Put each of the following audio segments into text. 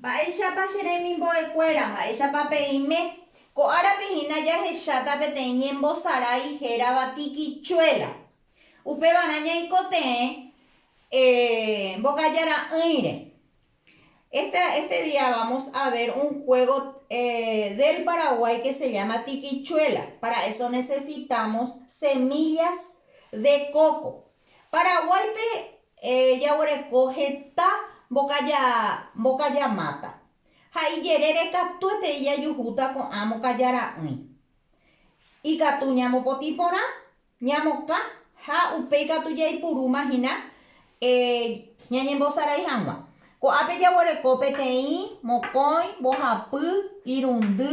Mba'éichapa che remimbo'ekuéra, mba'éichapa peime? Ko árape hína jahecháta peteĩ ñembosarái hérava tikichuela. Upevarã ñaikotevẽ Mbokaja Ra'ỹire. Este, este día vamos a ver un juego del Paraguay que se llama tikichuela. Para eso necesitamos semillas de coco. Paraguáipe Jaguereko heta mbokaja mbokaja máta, ha ijerére katuetei jajuhúta ko'ã mbokaja ra'ỹi. Ikatu ñamopotĩ porã, ñamokã ha upéi katu jaipurúma hína ñañembosarai hag̃ua. Ko'ápe jaguereko peteĩ mokõi mbohapy irundy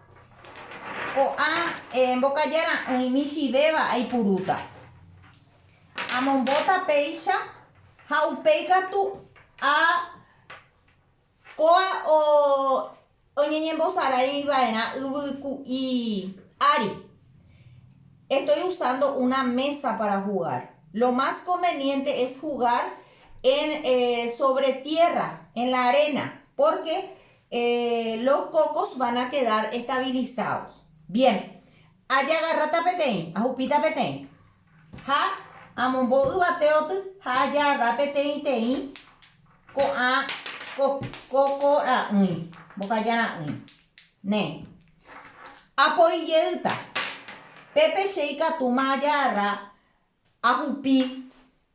Ko'ã mbokaja ra'ỹi michĩvéva aipurúta. Amombóta péicha ha upéi katu a kóa oñeñembosarái va'erã yvyku'i ári. Estoy usando una mesa para jugar. Lo más conveniente es jugar en sobre tierra, en la arena, porque Los cocos van a quedar estabilizados. Bien. Ajagarráta peteĩ, ahupíta peteĩ. Ha amombo yvate oty ha ajagarra peteĩteĩ ko'ã coco ra'ỹi, mbokaja ra'ỹi. Néi. Apoi jeýta. Pépe che ikatúma ajagarra ahupi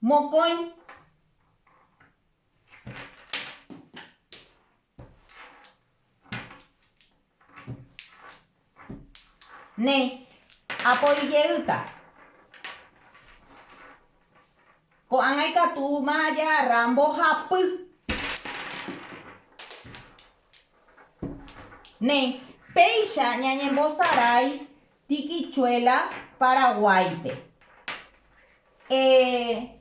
mokõi Néi, apo ijeýta. Ko'ág̃a ikatúma ajára mbohapy. Néi, péicha ñañembosarái tikichuela Paraguáipe. Eh...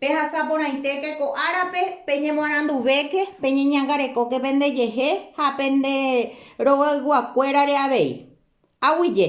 Pehasa porãitéke ko árape, peñemoaranduvéke, peñeñangarekóke pendejehe ha pende rogayguakuérare avei. Aguyje.